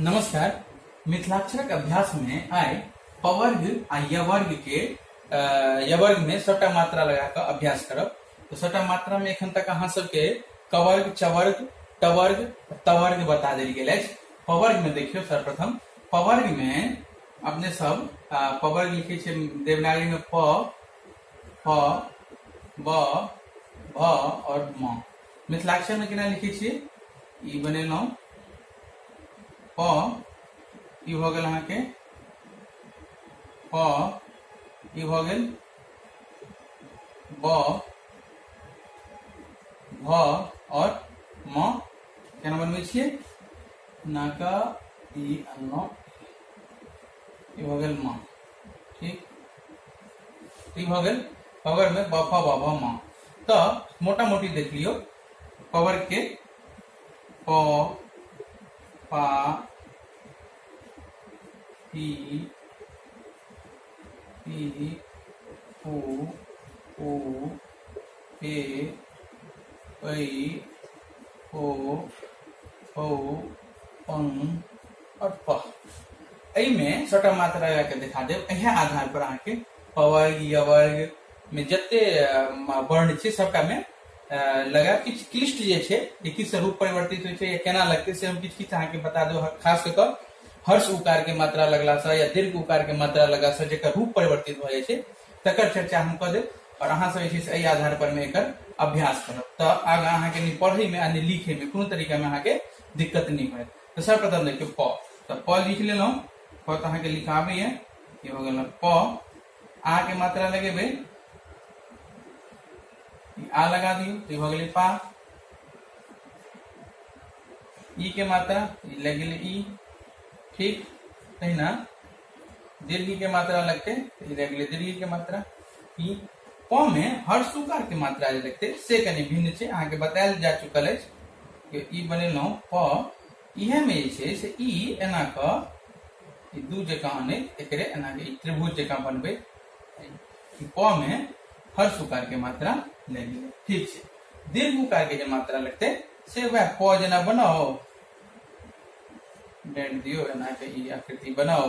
नमस्कार मिथिलाक्षरक अभ्यास में आइ पवर्ग आ यवर्ग के अ, यवर्ग में सबटा मात्रा लगा कऽ अभ्यास करब तो सबटा मात्रा में एखन तक अहाँ सबके कवर्ग चवर्ग टवर्ग तवर्ग बता देल गेल अछि पवर्ग में देखियौ सर्वप्रथम पवर्ग में अपने सब अ, पवर्ग लिखै छै देवनागरी में प ह ब भ और म मिथिलाक्षर में केना लिखे छे ई बनेलौ प ई भ गेल अहाँके प ई भ गेल ब भ और म केना बनबै छियै नाका ई अनलहुँ ई भऽ गेल माँ ठीक ई भऽ गेल पवर में बापा बाबा माँ तो मोटा मोटी देख लियो पवर के प पा पी पी पू पू पे पई ओ ओ पंग और प एहि में छोटा मात्रा लगा के दिखा देव एहे आधार पर अहाँ के पवर्ग यवर्ग में जते अ, म- वर्ण छै सबटा में अ, लगा किछु क्लिष्ट जे छै जे किस रूप परिवर्तित होइ छै या केना लगतै से हम किछु किछु अहाँ के बता देव खास कऽ कऽ हर्ष उकार के मात्रा लगला से या दीर्घ उकार के मात्रा लगला से जेकर रूप परिवर्तित भऽ जाइ छै तकर चर्चा हम कऽ देब और अहाँ सब जे छै से एहि आधार पर में एकर अभ्यास करब तऽ आगाँ अहाँ के नहि पढ़ै में आ नहि लिखै में कोनो तरीका में अहाँ के दिक्कत नहि होयत तो सर्वप्रथम देखियो प तो प लिख ले लो प तो अहाँके लिखाबे ये ये हो गया प आ के मात्रा लगे बे आ लगा दियो तो ये हो गया पा ई के मात्रा लग गई ई ठीक है ना दीर्घ के मात्रा लगते तो ये लग गई दीर्घ के मात्रा ई क मे हर सुकार के मात्रा जे देखते से कनी भिन्न छै अहाँ के बतायल जा चुकल अछि कि ई बनेलहुँ प इहे में जे छै से ई एना क ई दू जकाँ अनैत एकरे एना के ई त्रिभुज जकाँ बनबे प मे हर सुकार के मात्रा लागि गेलै ठीक छै दीर्घ उकार के जे मात्रा लगते से वह प जेना बनाओ डेंट दियो एना के ई आकृति बनाओ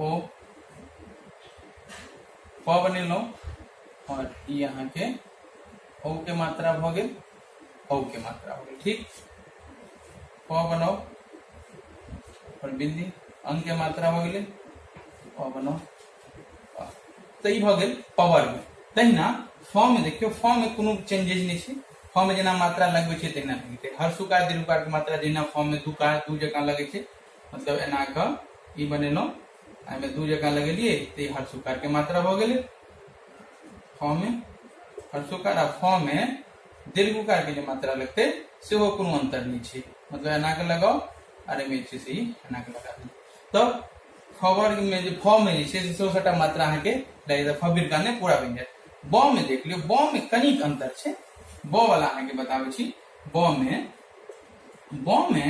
ओ प बनेलहुँ और ई अहाँके औ के मात्रा भ गेल औ के मात्रा भ गेल ठीक प बनाओ और बिंदी अंग के मात्रा भ गेल प बनाओ तो ई भ गेल पावर में तहिना फॉर्म में देखियो फॉर्म में कोनो चेंजेज नहीं छै फॉर्म में जेना मात्रा लगबे छै तहिना लगते हर सुकार दीर्घकार के मात्रा जहिना फॉर्म में दू कार दू जकाँ लगे छै मतलब एना क ई बनेलहुँ एहिमे दू जगह लगेलियै तऽ ई हर्षुकार के मात्रा भऽ गेलै फ मे हर्षुकार आ फ मे दीर्घकार के जे मात्रा लगतै सेहो कोनो अंतर नहि छै मतलब एना के लगाओ आर एहिमे जे छै से ई एना के लगा दियौ तब फ वर्ग मे जे फ मे जे छै से सेहो सभटा मात्रा अहाँके लागि जायत फ बिरका नहि पूरा बनि जायत ब मे देख लियौ ब मे कनिक अंतर छै ब वाला अहाँके बताबै छी ब मे ब मे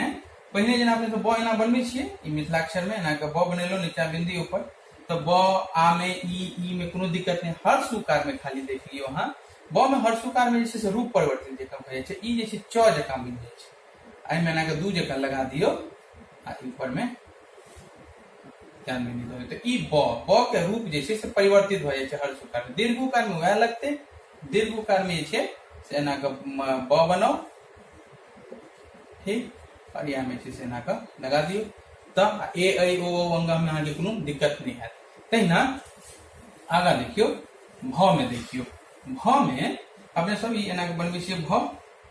पहिने जेना अपने सब ब एना बनबै छियै ई मिथिलाक्षर मे एना के ब बनेलहुँ नीचा बिंदी ऊपर तो ब आ में ई ई में कोनो दिक्कत नहीं हर सुकार में खाली देख लियो अहाँ ब में हर सुकार में जैसे रूप परिवर्तन जकाँ भऽ जाइ छै ई जे छै च जकाँ बनि जाइ छै एहि में एनाके दू जकाँ लगा दियो आ ऊपर में ध्यान में नहीं देबै तो ई ब ब के रूप जे छै से परिवर्तित भऽ जाइ छै हर सुकार में दीर्घ उकार में वएह लगतै दीर्घ उकार में छे से एना के ब बनाओ ठीक और यहाँ में से एना के लगा दियो तो ए ऐ ओ ओ अंगा में अहाँ के कोनो दिक्कत नहीं है तहिना आगा देखियो भ में देखियो भ में अपने सब ई एना के बनबे छियै भ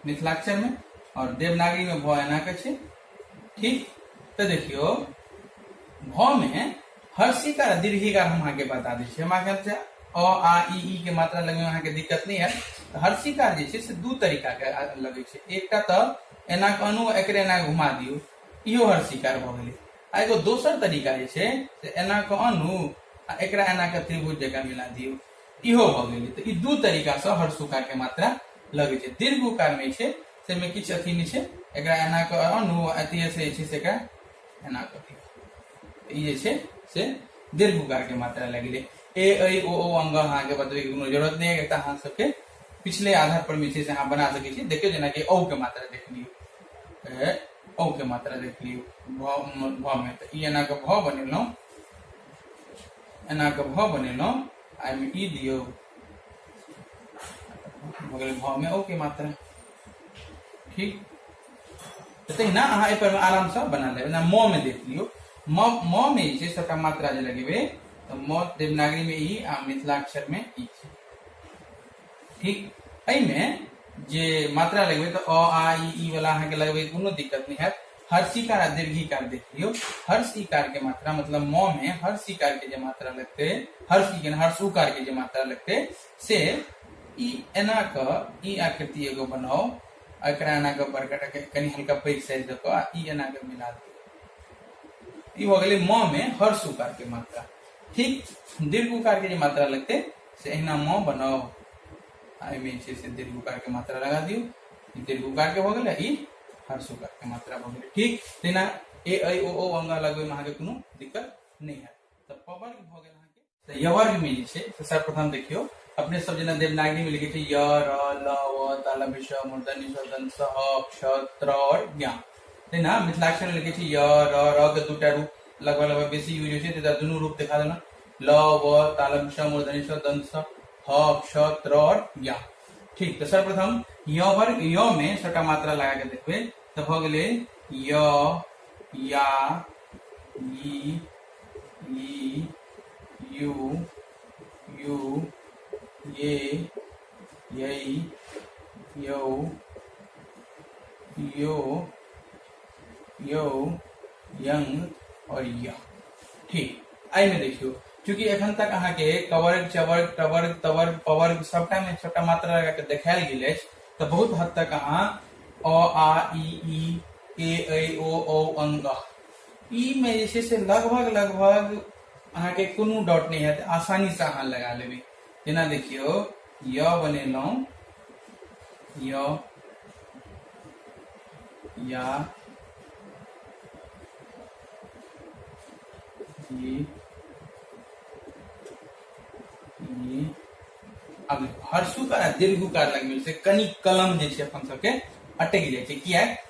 मिथिलाक्षर में और देवनागरी में भ एना के छे ठीक तो देखियो भ में हर्षिका आ दीर्घिका हम अहाँके बता दै छी हम अहाँके अ आ ई ई के मात्रा लगे में अहाँके दिक्कत नहीं है तऽ हर्षिका जे छै से दू तरीकाके लगै छै एकटा तऽ एना कऽ अनु एकरे एना कऽ घुमा दियौ इहो हर्षिकार भऽ गेलै आ एगो दोसर तरीका जे छै से एना कऽ अनु आ एकरा एना कऽ त्रिभुज जकाँ मिला दियौ इहो भऽ गेलै तऽ ई दू तरीकासँ हर्षुकारके मात्रा लगै छै दीर्घुकारमे छै ताहिमे किछु अथी नहि छै एकरा एना कऽ अनु आ अथी से जे छै से एकरा एना कऽ ई जे छै से दीर्घ उकारके मात्रा लागि गेलै ए ऐ ओ ओ अंग अहाँके बतबैके कोनो जरूरत नहि है एतऽ अहाँ सबके पिछले आधार पर जे छै से अहाँ बना सकै छी देखियौ जेनाकि औ के मात्रा देख लियौ ए औ के मात्रा देख लियौ भ भ मे तऽ ई एना कऽ भ बनेलहुँ एना कऽ भ बनेलहुँ आ एहिमे ई दियौ भऽ गेलै भ मे औ के मात्रा ठीक तहिना अहाँ एहि पर आराम से बना लेब ना म में देख लियो म म में जे सबटा मात्रा जे लगेबे तो म देवनागरी में ई आ मिथिला अक्षर में ई छै ठीक एहि में जे मात्रा लगेबे तो अ आ ई ई वाला अहाँ के लगेबे कोनो दिक्कत नहीं हैत हर सिकार आ दीर्घिकार देख लियो हर सिकार के मात्रा मतलब म में हर सिकार के जे मात्रा लगते हर सिकार हर सुकार के जे मात्रा लगते से ई एना क ई आकृति एगो बनाओ एकरा एना कऽ बड़का टा के- कनि हल्का पैघ साइज दऽ कऽ आ ई एना कऽ मिला दियौ ई भऽ गेलै म मे हर्ष उकार के मात्रा ठीक दीर्घ उकार के जे मात्रा लगतै से अहिना म बनाउ आ एहिमे जे छै से दीर्घ उकार के मात्रा लगा दियौ ई दीर्घ उकार के भऽ गेलै ई हर्ष उकार के मात्रा भऽ गेलै ठीक तहिना ए ऐ ओ औ अंगा लगबैमे अहाँके कोनो दिक्कत नहि हैत तऽ पवर्ग भऽ गेल अहाँके तऽ यवर्ग में जे छै से सर्वप्रथम देखियौ अपने सब जेना देवनागरी में लिखे छै य र ल व तालम श मूर्धनि शोधन स ह क्ष त्र और ज्ञा है ना मिथिलाक्षर में लिखे छै य र र के दूटा रूप लगभग लगभग बेसी यूज होइ छै तऽ दुनू रूप देखा देना ल व तालम श मूर्धनि श दन स ह क्ष त्र और ज्ञा ठीक तऽ सर्वप्रथम य वर्ग य में सबटा मात्रा लगा के देखबै तऽ भऽ गेलै य या ई ई यू यू ये यई यौ यो यौ यंग और या ठीक आई में देखियो चूंकि एखन तक अहाँ के कवर्ग चवर्ग टवर्ग तवर्ग पवर्ग सबटा में छोटा मात्रा लगा के देखायल गेल अछि तऽ बहुत हद तक अहाँ अ आ ई ई ए ऐ ओ औ अंग ई में जे छै से लगभग लगभग अहाँके कोनो डाउट नहि हैत आसानीसँ अहाँ लगा लेबै जेना देखियौ य बनेलहुँ य या ये ये अब हर्षुकार आ दीर्घुकार लगमे से कनि कलम जे छै अपन सबके अटकि जाइ छै किया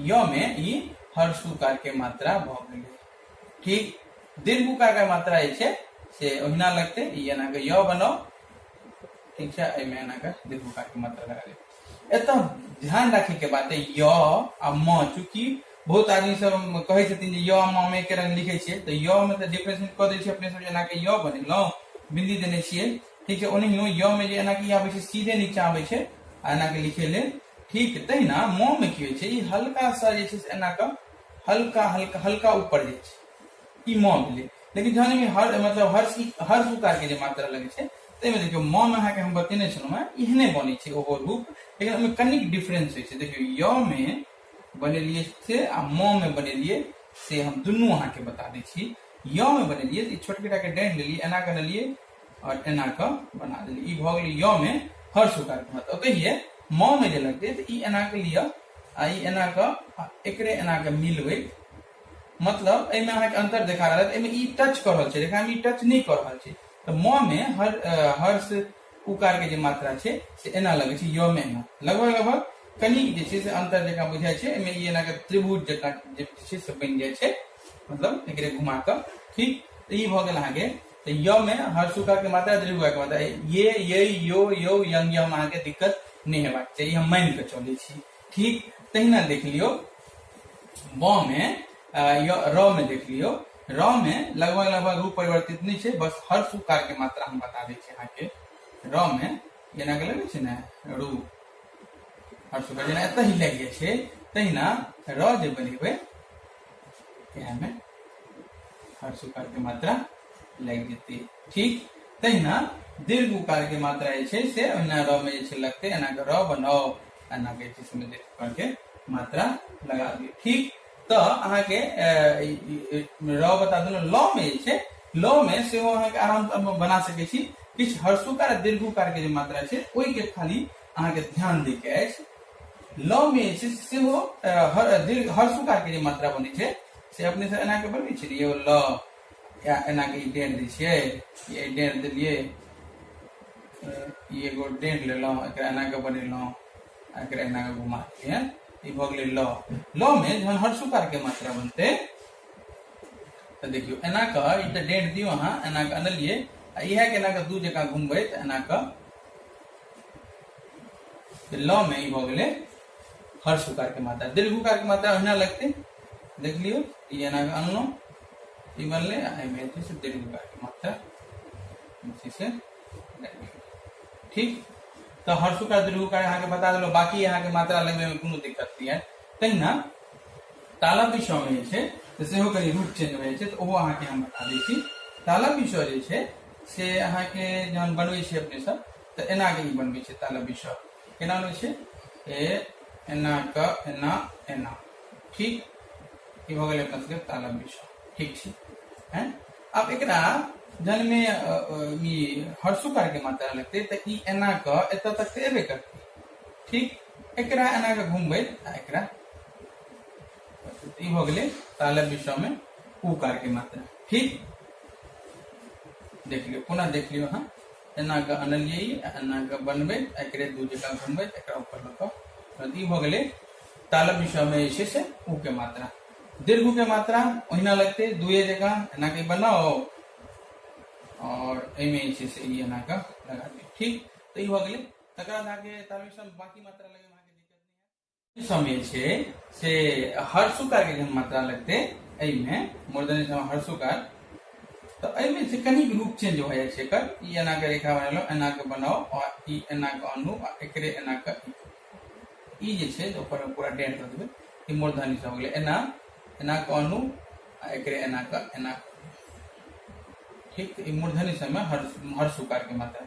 य में ई हर सुकार के मात्रा भ गेल ठीक दीर्घ उकार के मात्रा जे छै से ओहिना लगते ई एना के य बनाओ ठीक छै एहि में एना के दीर्घ उकार के मात्रा लगा लेब एत ध्यान रखे के बात है य आ म चूंकि बहुत आदमी सब कहे छथिन जे य म में के रंग लिखे छियै तऽ य में तऽ डिफरेंशिएट कऽ दै छियै अपने सब जेना के य बनेलहुँ बिंदी देने छियै ठीक छै ओनाहियो य में जे एना कि आबै छै सीधे नीचा आबै छै आ एना के लिखे लेल ठीक तहिना मौन की होइ छै ई हल्का सा जे छै से एना कऽ हल्का हल्का हल्का ऊपर जाइ छै ई मौन भेलै लेकिन जहन एहिमे हर मतलब हर हर सुकारके जे मात्रा लगै छै ताहिमे देखियौ मौन अहाँके हम बतेने छलहुँ हेँ एहने बनै छै ओहो रूप लेकिन ओहिमे कनिक डिफरेंस होइ छै देखियौ य मे बनेलियै से आ म मे बनेलियै से हम दुनू अहाँके बता दै छी य मे बनेलियै तऽ ई छोटकेटाके डाँटि लेलियै एना कऽ लेलियै और एना के बना देली ई भ गेल य में हर सुकार के मतलब कहिए म में जे लगते तो ई एना के लिया आ ई एना के आ एकरे एना के मिलबे मतलब एहिमे अहाँके अंतर देखा रहल है एहिमे ई टच कर रहल छै लेकिन हम ई टच नहीं कर रहल छै तो म में हर अ, हर्ष उकार के जे मात्रा छै से एना लगे छै य में एना लगभग लगभग कनि जे छै से अंतर जकाँ बुझाइ छै एहिमे ई एना के त्रिभुज जकाँ जे छै से बनि जाइ छै मतलब एकरे घुमा कऽ ठीक तऽ ई भऽ गेल अहाँके तो य में हर सुखा के मात्रा दीर्घा के मात्रा ये ये यो यो यंग यम अहाँ के दिक्कत नहीं हेबाक चाहिए हम मान के चले छी ठीक तहिना देख लियो ब में र में देख लियो र में लगभग लगभग रूप परिवर्तित नहीं है बस हर सुकार के मात्रा हम बता दी अहाँ के र में जेना के लगे ना रू हर सुकार जेना एत ही लग जाए तहिना र जे बनेबे के हमें हर सुकार के मात्रा लागि जेतै ठीक तहिना दीर्घ उकार के मात्रा जे छै से ओहिना र में जे छै लगतै एना के र बनाउ एना के छै से दीर्घ उकार के मात्रा लगा दियौ ठीक तो अहाँ के र बता देलहुँ ल में जे छै ल में सेहो अहाँ के आराम बना सकै छी किछु हर्षुकार आ दीर्घुकार के जे मात्रा छै ओहि के खाली अहाँके ध्यान दै के अछि ल मे जे छै सेहो अ, हर दीर्घ हर सुकार के जे मात्रा बनै छै से अपने से एना के बनबै छै ने यौ ल या एना के ई डेढ़ दै छियै ये डेढ़ देलियै अ, ई एगो डेढ़ लेलहुँ एकरा एना के बनेलहुँ आ एकरा एना के घुमा दियै ई भऽ गेलै ल ल मे जहन हर सुकार के मात्रा बनतै तऽ देखियौ एना कऽ ई तऽ डेढ़ दियौ अहाँ एना कऽ अनलियै आ इएह के एना कऽ दू जकाँ घुमबै तऽ एना कऽ ल मे ई भऽ गेलै हर सुकार के मात्रा दीर्घ उकार के मात्रा ओहिना लगतै देख लियौ ई एना अनलहुँ ई बनलै आ एहिमे जे छै से दीर्घ उकार के मात्रा जे छै से लागि गेलै। ठीक तऽ हर सुकार दीर्घ उकार अहाँके बता देलहुँ बाकी अहाँके मात्रा लगबैमे कोनो दिक्कत नहि है तहिना ताला पिछो में जे छै से सेहो कनि रूट चेंज भऽ जाइ छै तऽ ओहो अहाँके हम बता दै छी ताला पिछो जे छै से अहाँके जहन बनबै छै अपने सब तऽ एना के ई बनबै छै ताला विषय केना बनबै छै ए एना क एना एना ठीक ई भऽ गेलै अपना सबके ताला विषय ठीक छै हैं अब एकरा जहन में अ, अ, ई हर्षुकार के मात्रा लगतै तऽ ई एना क एतऽ तक तऽ एबे करतै ठीक एकरा एना के घुमबै आ एकरा ई हो गेलै तालव्य विषयमे उकारके मात्रा ठीक देख लियौ पुनः देख लियौ अहाँ एना कऽ अनलियै एना कऽ बनबैत एकरे दू जगह घुमबैत एकरा ऊपर लऽ कऽ ई भऽ गेलै तालव्य विषयमे जे छै से ऊ के मात्रा दीर्घ के मात्रा ओहिना लगते दुए जगह एना के बनाओ और एहिमे जे छै से ई एना कऽ लगा दियौ ठीक तऽ ई भऽ गेलै तकर बाद अहाँके तालव्य विषयमे बाकी मात्रा लगे शामिल छै से हर्षुका के जहन मात्रा लगते एहिमे मूर्धन्य सम हर्षुका तऽ एहिमे से कनि रूप चेंज भऽ जाइ छै एकर ई एना के रेखा बनेलहुँ एना के बनाउ आ ई एना के आनू आ एकरे एना के ई जे छै से ऊपर मे पूरा डेढ़ दऽ देबै ई मूर्धन्य सम गेलै एना एना के आनू आ एकरे एना के एना के। ठीक तऽ ई मूर्धन्य सम मे हर्ष हर्षुकार के मात्रा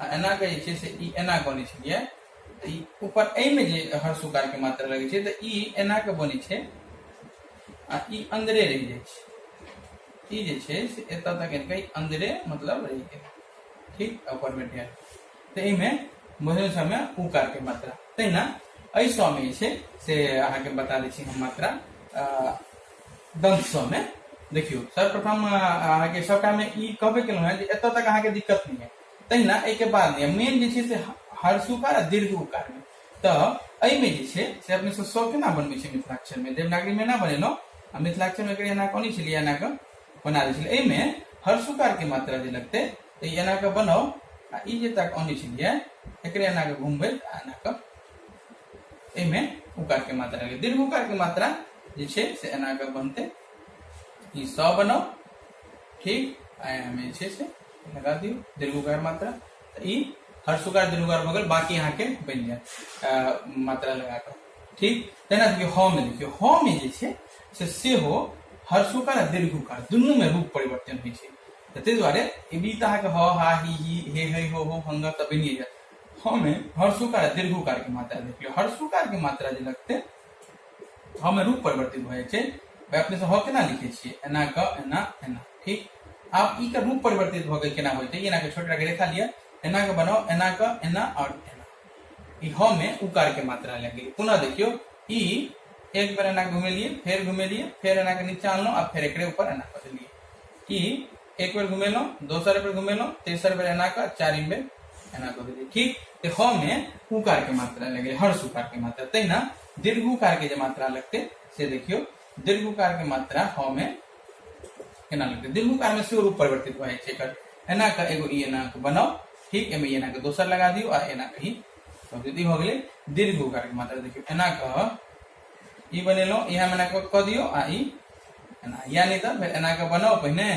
आ एनाके जे छै से ई एना बनै छलियै तऽ ई ऊपर एहिमे जे हर सुकारके मात्रा लगै छै तऽ ई एनाके बनै छै आ ई अन्दरे रहि जाइ छै ई जे छै से एतऽ तक एलकै अन्दरे मतलब रहि गेल ठीक ऊपर भेट गेल तऽ एहिमे भोजन समय उकारके मात्रा तहिना एहि सौमे जे छै से अहाँके बता दै छी हम मात्रा दंत सब में देखियो सर्वप्रथम अहाँ के सबटा में ई कहबे केलहुँ हैं जे एतऽ तक अहाँ के दिक्कत नहीं है तहिना एहि के बाद नहीं मेन जे छै से हर्ष उकार आ दीर्घ उकार में तऽ एहि में जे छै से अपने सब सौ केना बनबै छै मिथिलाक्षर में देवनागरी में ना बनेलहुँ आ मिथिलाक्षर में एकरे एना कऽ अनै छलियै एना कऽ बना दै छलियै एहि में हर्ष उकार के मात्रा जे लगतै तऽ ई एना कऽ बनाउ आ ई जे तक अनै छलियै एकरे एना कऽ घुमबै आ एना कऽ एहिमे उकार के मात्रा लिख दीर्घ उकार के मात्रा जे छै से एना कऽ बनतै ई स बनाउ ठीक आ एहिमे जे छै से लगा दियौ दीर्घ उकार मात्रा तऽ ई हर सुकार दीर्घ उकार भऽ गेल बाकी अहाँके बनि जायत अ, मात्रा लगा कऽ ठीक तहिना देखियौ ह मे देखियौ ह मे जे छै से सेहो हर सुकार आ दीर्घ उकार दुनूमे रूप परिवर्तन होइ छै तऽ ताहि दुआरे ई तऽ अहाँके ह हा ही ही हे हे हो हो हंगा तऽ बनिए जायत हमे हर्षुकार दीर्घुकार के मात्रा देखियो हर्षुकार के मात्रा जे लगते हमे रूप परिवर्तित भए छै अपने से ह केना लिखे छिए एना क एना एना ठीक आब ई के रूप परिवर्तित भ के केना होते एना के छोटा के रेखा लिया एना के बनाओ एना क एना और एना ई ह में उकार के मात्रा लग गई पुनः देखियो ई एक बार एना घुमेलिए फिर घुमेलिए फिर एना के नीचे आनलो आ फिर एकरे ऊपर एना कर देलिए ई एक बेर घुमेलहुँ दोसर बेर घुमेलहुँ तेसर बेर एना कऽ चारिम बेर एना कऽ देलियै ठीक तऽ ह मे उकार के मात्रा लगलै हर्ष उकार के मात्रा तहिना दीर्घ उकार के जे मात्रा लगतै से देखियौ दीर्घ उकार के मात्रा ह मे केना लगतै दीर्घ उकार मे सेहो रूप परिवर्तित भऽ जाइ छै एकर एना कऽ एगो ई एना कऽ बनाउ ठीक एहिमे ई एना कऽ दोसर लगा दियौ आ एना कऽ ई कऽ दियौ। ई भऽ गेलै दीर्घ उकार के मात्रा देखियौ एना कऽ ई बनेलहुँ इएह एना कऽ कऽ दियौ आ ई एना या नहि तऽ फेर एना कऽ बनाउ पहिने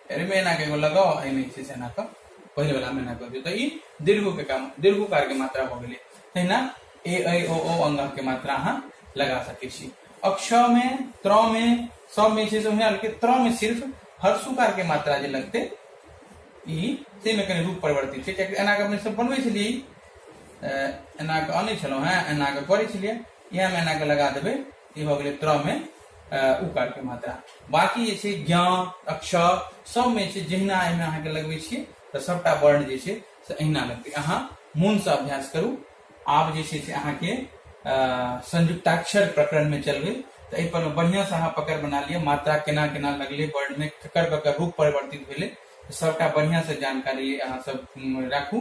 फेर एहिमे एना कऽ एगो लगाउ आ एहिमे जे छै से एना कऽ पहिले वला में एना कऽ दियौ तऽ ई दीर्घके काम दीर्घकारके मात्रा भऽ गेलै तहिना ए ऐ ओ ओ अंगके मात्रा अहाँ लगा सकै छी अक्षमे त्रमे सबमे छै से ओहिना लेकिन त्रमे सिर्फ हर्षुकारके मात्रा जे लगतै ई ताहिमे कनि रूप परिवर्तित छै कियाकि एना कऽ अपने सब बनबै छलियै एना कऽ अनै छलहुँ हेँ एना कऽ करै छलियै इएह मैना के लगा देबै ई भऽ गेलै त्र मे उकार के मात्रा बाकी जे छै ज्ञ अक्षर सबमे छै जहिना एहिमे अहाँके लगबै छियै तऽ सभटा वर्ण जे छै से अहिना लगतै अहाँ मोनसँ अभ्यास करू आब जे छै से अहाँके संयुक्ताक्षर प्रकरणमे चलबै तऽ एहिपर बढ़िआँसँ अहाँ पकड़ बना लिअ मात्रा केना केना लगलै वर्णमे ककर ककर रूप परिवर्तित भेलै सभटा बढ़िआँसँ जानकारी अहाँसभ राखू